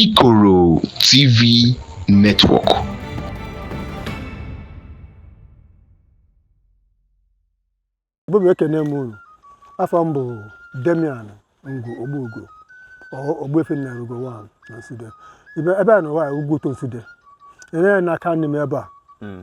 Ikoro TV Network. Igbo bụ ekene m unu afa m bụ Damian Ngwu Ogbugo Ogbuefi Nnarugo one na Nsude ebe anụwa Ugwuto Nsude e nee ya n'aka nni m ebe a hmm.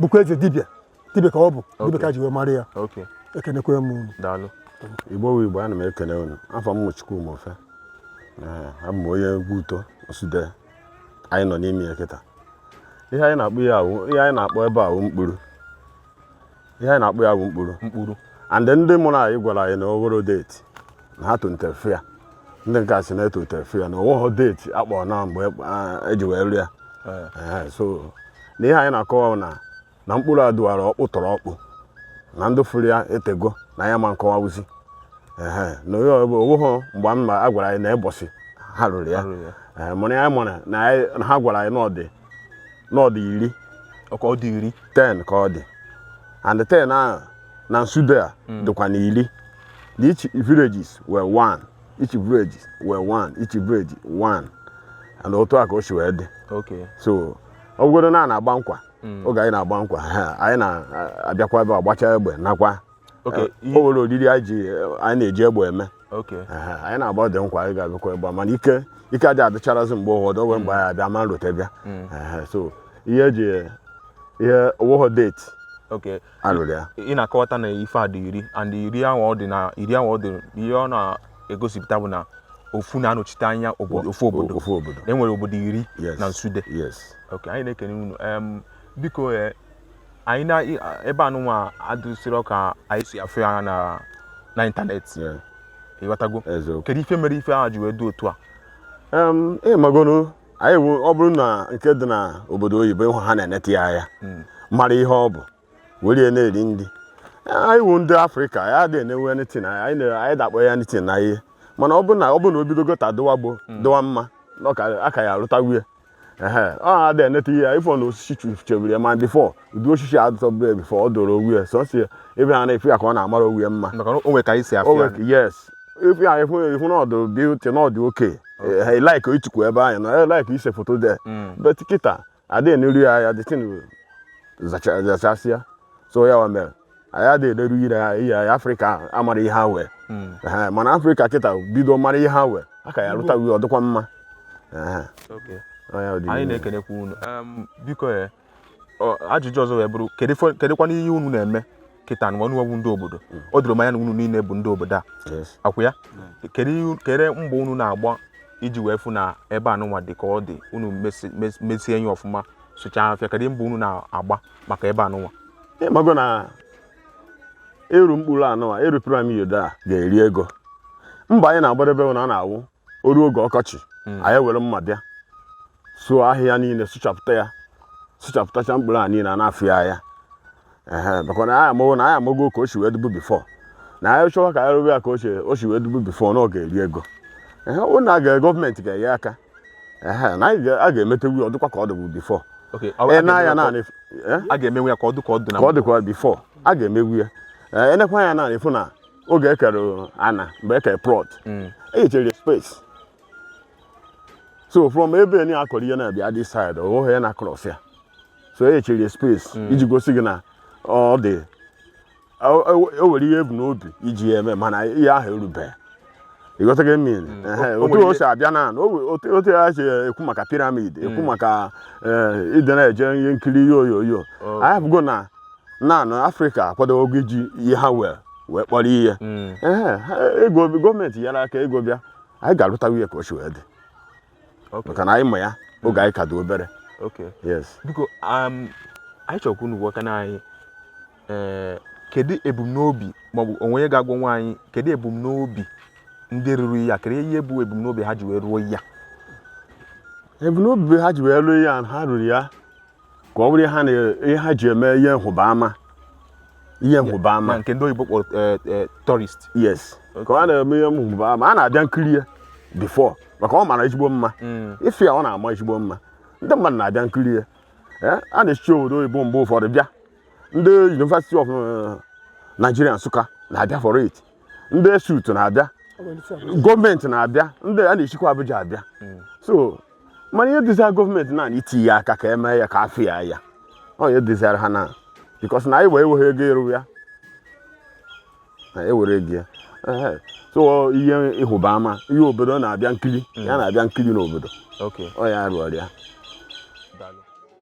bụkwa eze dibịa dibịa ka ọ bụ dibịa ka ji wee mara ya ekenekwe m unu daalụ Igbo wụ Igbo ana m ekene unu afa m Chukwuma Ofe abụ m onye Ugwu Uto Nsude anyị nọ n'ime ya kịta ihe anyị na-akpọ ya wụ ihe anyị na-akpọ ebe a wụ mkpụrụ ihe anyị na-akpọ ya wụ mkpụrụ mkpụrụ and ndị mụrụ anyị gwara anyị na oworo date na ha tolitere fụ ya ndị nke a sị na etolitere fụ ya na owoho date a kpọrọ na mgbe e ji wee rụ ya eh. so na ihe anyị na-akọwa na na mkpụrụ a dụwara ọkpụ tọrọ ọkpụ na ndị fụrụ ya etego na ya ma nkọwa wụzị na owoho mgbe a ma a gwara anyị na mbọsị ha rụrụ ya eh, mana ya mara na ha gwara anyị na ọ dị na ọ dị iri ka ọ dị iri ten ka ọ dị and ten ahụ na Nsude a hmm. dịkwa na iri na each villages were one each village were one each village one and otu a ka o si wee dị Okay. so ọ bụgodo na a na-agba nkwa Mm. oge anyị na-agba nkwa ha, anyị na-abịakwa ebe a gbacha egbe nakwa Okay, Eh, ihe- o nwere oriri anyị ji anyị na-eji egbe eme Okay. Ehe, anyị na-agbadị nkwa anyị ga-abịakwa egbe mana ike ike adị adịcharazi mgbe ụfọdụ o we mgbe anyị abịa ma e rote bịa Ehe, so ihe e ji ihe owoho date Okay. a rụrụ ya ị na-akọwata na ife a dị iri and iri ahụ ọ dị na iri ahụ ọ dị ihe ọ na-egosipụta bụ na ofu na-anọchite anya obodo ofu obodo ofu obodo e nwere obodo iri Yes. na Nsude yes ok anyị na-ekene unu em biko eh, anyị na i- a- ebe anụnwa adịsịrọ ka anyị si afụ ya na na internet yeah, ị ghọtago eziokwu kedu ife mere ife ahụ ji wee dị otu a Em, ị magonu anyị wụ ọ bụrụ na nke dị na obodo oyibo ị hụ ha na-eneta ya anya mara ihe ọ bụ were ya na-eri nri anyị wụ ndị Afrịka ya adịghị enewe anything anyị na- anyị adị akpọ ya anything na ihe mana ọ bụrụ na ọ bụrụ na o bidogo ta dịwa gbo dịwa mma na ọ ka- aka ya arụtawu ya ehe ọ adịghị eneta ihe ya ị fụ na osisi chebiri ya ma before ụdị osisi a dụtọbụrụ ya before ọ dọrọ owu ya sọsọ ya ebe ha na-afụ ya ka ọ na-amara owu ya mma maka na o nwere ka anyị si afụ ya nwere yes ị fụ ya ị fụ ya ị fụ na ọ dụ beauty na ọ dụ okay ị like itukwu ebe anyị na ị like ise foto there but kịta adịghị eneru ya ya the thing zachasịa so ya wa mere anyị adịghị eleru ire ya ihe ya Afrịka amara ihe ha wee Ehe, mana Afrịka kịta bido mara ihe ha wee aka ya rụta wee ọ dịkwa mma Ehe, Okay. ọ ya dị anyị n'ihu. na-ekenekwa unu Em, biko e ajụjụ ọzọ wee bụrụ kedụkwana ihe unu na-eme kịta nụwa unu wụ ndị obodo o doro m anya na unu niile bụ ndị obodo a ọ kwa ya kedụ mbọ unu na-agba iji wee fụ na ebe anụnwa dị ka ọ dị unu mesie enyi ọfụma sụchaa afịfịa kedụ mbọ unu na-agba maka ebe anụnwa ịmago na ịrụ mkpụrụ anụnwa ịrụ piramid a ga-eri ego mbọ anyị na-agbadebe na ọ na-awụ o ruo oge ọkọchị hmm. anyị were mma bịa sụọ ahịhịa niile sụchapụta ya sụchapụtacha mkpụrụ a niile a na-afụ ya anya maka na anyị amago na anyị amago ka o si wee dịbu before na anyị chọwa ka anyị rụwa ya ka o si wee dịbu before na ọ ga-eri ego ọ wụ na ga gọọmenti ga-enye aka na anyị a ga-emetewu ya ọ dịkwa ka ọ dịbu before a ga-emenwu ya ka ọ dị ka ọ dị na before a ga-emewu ya ị nekwa anya n'ana ị fụ na oge ekere ana mgbe ekere plot mm. enyechere space so from ebe ni akọrọ ihe na-abịa this side ohe ya na cross ya so enyechere space mm. iji gosi gị na ọ dị o nwere ihe e bu n'obi iji ya eme mana ihe ahụ erubeghị ịghọtago ihe m mean Mm. Ehe, O- o otu nwere o si abịa na na o we- otu otu ya si ekwu maka piramid ekwu Mm. maka eh, ndị na-eje ihe nkiri ihe onyonyo Oh. anyị afụgo na na na afrịka akwadogo iji ihe ha wee wee kpọrọ ihe Mm. Ehe, ha- ego gọọmenti nyere aka ego bịa anyị ga-arụtawa ya ka o si wee dị Okay. maka na anyị ma ya oge anyị ka dị obere Okay. yes biko um, anyị chọrọ ka unu gwakana anyị ee eh, kedu ebumnobi maọbụ o nwee onye ga-agwanwu anyị kedu ebumnobi ndị rụrụ ya kedu ihe bụ ebumnobi ha ji wee rụọ ya ebumnobi ha ji wee rụọ ya ha rụrụ ya ka ọ bụrụ ihe ha ji eme ihe nhụba ama ihe nhụba ama nke ndị oyibo kpọrọ eh, eh, tourist yes ka ọ na-eme ihe nhụba ama a na-abịa nkiri ya before maka ọ mara ezigbo mma mm. ị fụ ya ọ na-ama ezigbo mma ndị mmadụ na-abịa nkiri ya eh, a na-esi obodo oyibo mgbe ụfọdụ bịa ndị University of eh, Nigeria Nsụka na-abịa for it ndị ESUT na-abịa gọọmenti na-abịa ndị a na-esikwa Abuja abịa hmm. so mana ihe dịzịrị gọọmenti na itinye aka ka e mee ya ka a fụ ya anya ọ ya dịzịrị ha na because na anyị enweghị ego ịrụ ya na enwerọ ego ya so ihe nhụba ama ihe obodo na-abịa nkiri ya hmm. na-abịa nkiri n'obodo ọ ya rụọrọ ya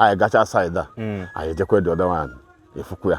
anyị gacha saịdị a hmm. anyị ejekwa dị ọdọ nwaanyị efukwu ya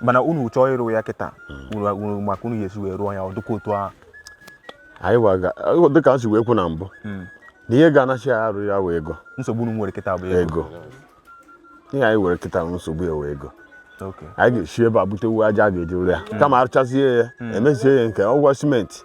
mana unu chọọ ịrụ ya kịta hmm. maka unu ga-esi wee rụọ ya ọ dịkwa otu ahụ anyị dịka m si wee kwu na mbụ hmm. na ihe ga-anachi ya arụ ya wụ ego nsogbu unu nwere kịta bụ ego ihe anyị nwere kịta nsogbu ya wụ ego anyị ga-esi ebe a butewu aja a ga-eji rụọ ya hmm. kama arụchazie ya emezie ya nke ọgwọ simenti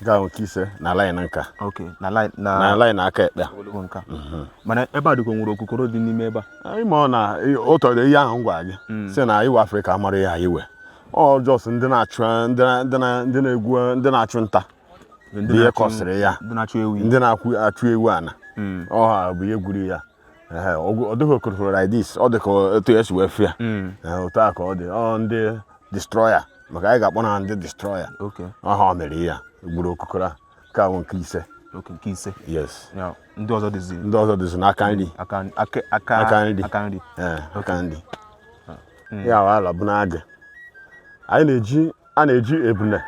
nke a wụ nke ise na line nka okay na line na na line aka ekpe ogologo nka mana ebe a dịkwa nwere okokoro dị n'ime ebe a anyị ma ọ na ọ tọrọ ihe ahụ m gwara gị sị na anyịnwa afrịka amarọ ihe anyị nwe ọ just ndị na-achụ ndị na- ndị na- ndị na-egbu ndị na-achụ nta Ndị bụ ihe na-achụ- kọsịrị ya ndị na-achụ ewi ndị na-achụ ewi ana ọ ha bụ ihe gwuru ya ọ dịghị okokoro like this ọ dị ka otu esi wee fụ ya hmm. otu a ka ọ dị ọ ndị destroyer maka anyị ga-akpọ na ndị destroyer ọ ha mere ya gwuru okokoro a nke a wụ nke ise nke ise yes ndị ọzọ dịzi ndị ọzọ dịzi n'aka nri aka nri aka nri aka nri hmm. ya ahụ ala bụ n'agị anyị na-eji a na-eji ebune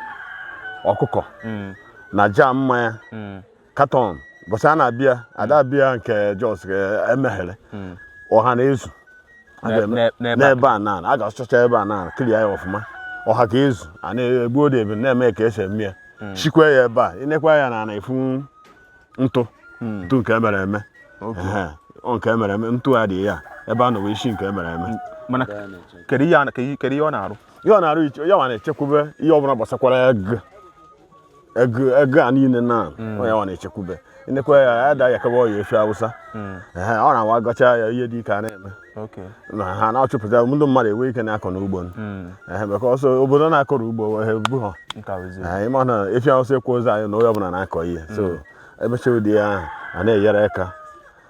ọkụkọ hmm. na jar mmanya carton mbọsị a na-abịa ada abịa nke just emeghere ọha na-ezu A ga-eme- N'e- n'ebe a. n'ebe a na a ga-asụchacha ebe a na clear ya ọfụma ọha ga-ezu a na-egbu ode ebe na-eme ka esi eme ya shikwa ya ebe a ị nekwa ya na na-afụ ntụ ntụ nke emere eme Ehe, ọ nke emere eme ntụ a dị ya ebe a nọ wee shi nke emere eme mana kedu ihe a- kedu ihe ọ na-arụ ya ọ na-arụ iche ya nwa na-echekwube ihe ọbụla gbasakwara egu egu egu a niile na hmm. ọ ya nwa na-echekwube nekwa ya ya da yakawa ọya efi awụsa hmm. ọ na-awa gọcha ya ihe dịka a na-eme na ha na-achụpụta ndị mmadụ ama enwe ike na-akọ n'ugbo hmm. maka ọsọ obodo na-akọrọ ugbo ha bu ha ị ma na efi awụsa ekwezi anyị na onye ọbụla na-akọ ihe so emecha ụdị ya a na-enyere aka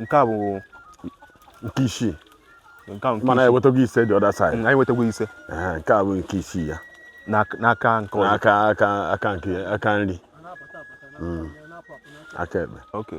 nke a bụ nke isii mana ewetago ise the other side anyị wetago ise nke a bụ nke isii ya n'aka nke ọzọ aka aka aka nke aka nri hmm. aka ekpe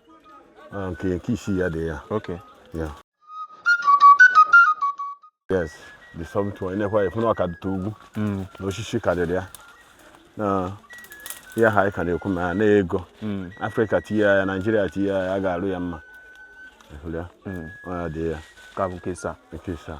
Ah, nke nke isii ya dị ya Okay. ya yes the something ị nekwa afụ na ọ ka dịtụ ugwu Mm. na osisi karịrị ya na ihe ha anyị ka na-ekwu ma ya na ego Mm. afrịka tinye ya naịjirịa tinye ya ya ga-arụ ya mma Ịhụrụ ya? Mm. Ọ ya dị ya Nka bụ nke isaa. nke isaa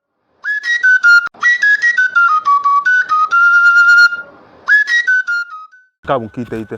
nke a bụ nke iteghete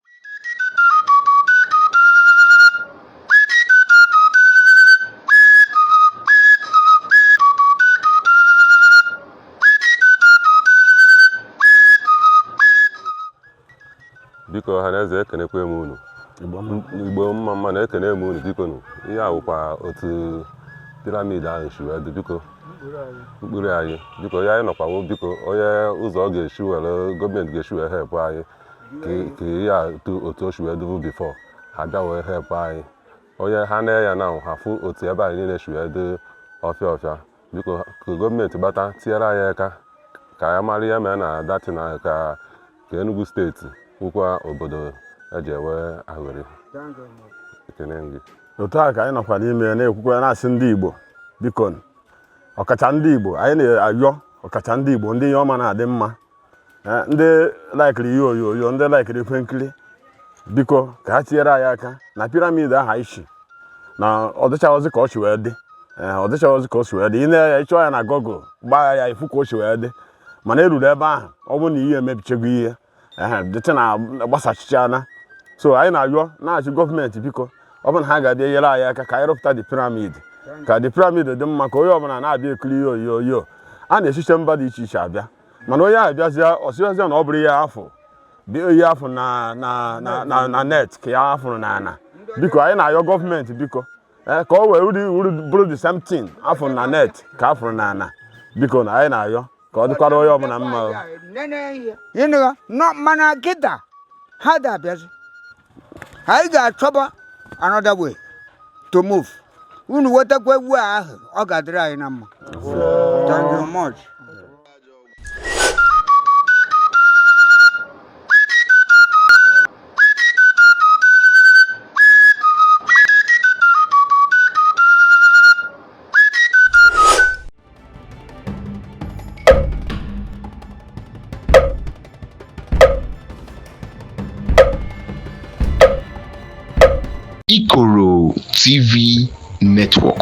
biko ọha na eze ekenekwa m unu igbo mma mma nụ ekene m unu biko nụ ihe a wụkwa otu piramid ahụ si wee dị biko nkpura anyị biko ya anyị nọkwa o biko onye ụzọ ọ ga-esi were gọọmenti ga-esi wee help anyị ka ihe a otu o si wee dịbụ before ha bịa wee help anyị onye ha na ya na ha fụ otu ebe anyị niile si wee dị ọfịa ọfịa biko ka gọọmenti gbata tinyere anyị aka ka anyị mara ihe mee na dati na ka ka Enugu steeti wụkwa obodo e ji enwe aṅụrị ekene gị otu a ka anyị nọkwa n'ime na-ekwukwa na-asị ndị Igbo biko ọkacha ndị Igbo anyị na-ayọ ọkacha ndị Igbo ndị ihe ọma na-adị mma eh, ndị laikiri ihe onyonyo ndị laikiri ihe nkiri biko ka ha tinyere anyị aka na piramid a ha sị na ọ dịchaghịzị ka o si wee dị eh, ọ dịchaghịzị ka o si wee dị ị nee ya ị chọọ ya na Google gbaa ya ị fụ ka o si wee dị mana e ruru ebe ahụ ọ bụrụ na ihe emebichego ihe dịtị na gbasachichana so anyị na-ayọ na-asị gọọmenti biko ọ bụ na ha ga-abịa nyere anyị aka ka anyị rụpụta the pyramid ka the pyramid dị mma ka onye ọbụla na-abịa ekiri ihe onyonyo a na-esicha mba dị iche iche abịa mana onye ahụ bịazịa ọ sị bịazịa na ọ bụrọ ihe a fụ dị ihe a fụ na na na na na net ka ya fụrụ na ana biko anyị na-ayọ gọọmenti biko ee ka o wee uri uri bụrụ the same thing a fụ na net ka a fụrụ na ana biko na anyị na-ayọ ka ọ dịkwara onye ọbụla mma o. ịnụgha nọ mana kịta ha da-abịazi anyị ga-achọba another way to move unu wetakwa egwu ahụ ọ ga-adịrị anyị na mma thank you much Ikoro TV Network.